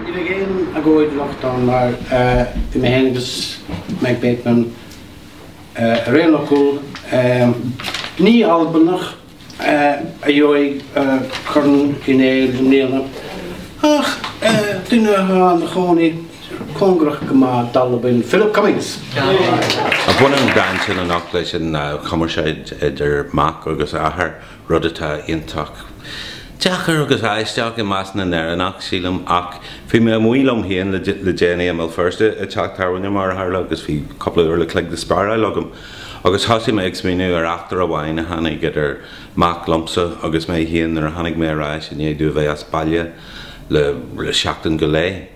Ní bheidh aon agóid anocht ann mar bhí mé féin agus Meg Bateman ar aon fhocal. Ní Albanach a gheobhaidh Corn Uí Néill i mbliana ach duine atá ina chónaí cóngarach go maith d'Albain, Philip Cummings. Bhain an dán sin anocht leis an chumarsáid idir mac agus athair. Rud atá iontach deacair agus aisteach i measc na nÉireannach, sílim, ach bhí mé amuigh liom féin le déanaí i mBéal Feirste, i dteach tábhairne mar a tharla, agus bhí cúpla uair an chloig le spáráil agam, agus thosaigh mé ag smaoineamh ar eachtra amháin a tháinig idir mac liomsa agus mé féin nuair a tháinig mé ar ais i ndiaidh domh a bheith as baile le seachtain go leith.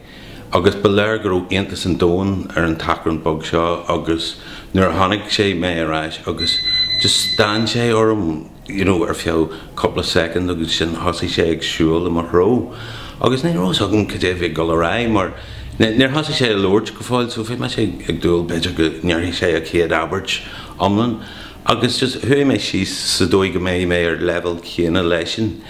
agus ba léir go raibh iontas an domhain ar an tachrán beag seo agus nuair a chonaic sé mé ar ais agus just stán sé orm you know ar feadh cúpla soicind agus sin thosaigh sé ag siúl i mo threo agus ní raibh fhios agam cad é a bhí ag dul ar aghaidh mar níor thosaigh sé a labhairt go fóill so bhí mise ag dúil b'fhéidir go ndéarfaidh sé a chéad abairt iomlán Agus just, chuaigh mé síos sa dóigh go mbeidh mé ar leibhéal céanna leisean.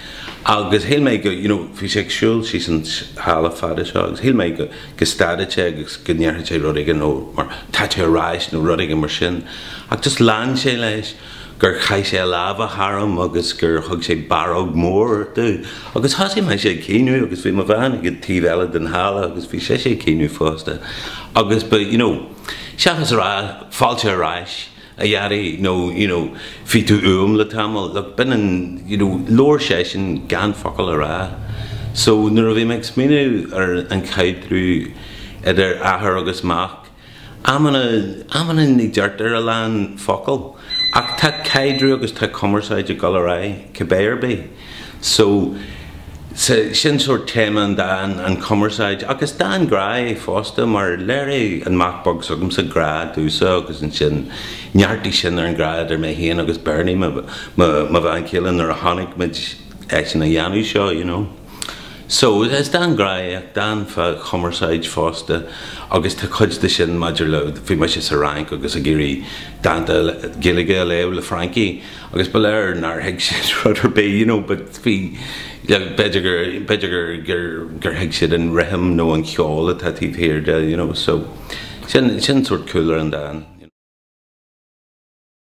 Agus shíl mé go, you know, bhí sé ag siúl síos an halla fada seo agus shíl mé go, go stadfad sé agus go ndéarfad sé rud éigin, nó mar, tá tú ar ais nó rud éigin mar sin. Ach just lean sé leis gur chaith sé a lámha tharam agus gur thug sé barróg mhór domh. Agus thosaigh mise ag caoineadh agus bhí mo bhean ag an taobh eile den halla agus bhí sise ag caoineadh fosta. Agus ba, you know, seachas a rá fáilte ar ais, a Dhaidí, nó, you know, bhí tú uaim le tamall, like, b'in an, you know, labhair seisean gan focal a rá. So, nuair a bhí mé ag smaoineamh ar an chaidreamh idir athair agus mac, amanna, amanna ní deirtear a lán focal, ach tá caidreamh agus tá cumarsáid ag dul ar aghaidh, cibé ar bith. So, sea, sin sórt téama an dáin, an chumarsáid, ach is dán grá é fosta mar léirigh an mac beag s'agamsa grá domhsa agus ansin neartaigh sin ar an grá idir mé féin agus Bernie, mo, mo, mo bhean chéile nuair a chonaic muid eisean a dhéanamh seo, you know. So, is dán grá é ach dán fá chumarsáid fosta agus tá cuid de sin maidir le, bhí mise sa Fhrainc agus ag iarraidh dánta Gaeilge a léamh le Francaigh Agus ba léir nár thuig siad rud ar bith, you know, but bhí, b'fhéidir gur, b'fhéidir gur, gur, gur thuig siad an rithim nó an cheol atá taobh thiar de, you know, so sin, sin sórt cúlra an dáin.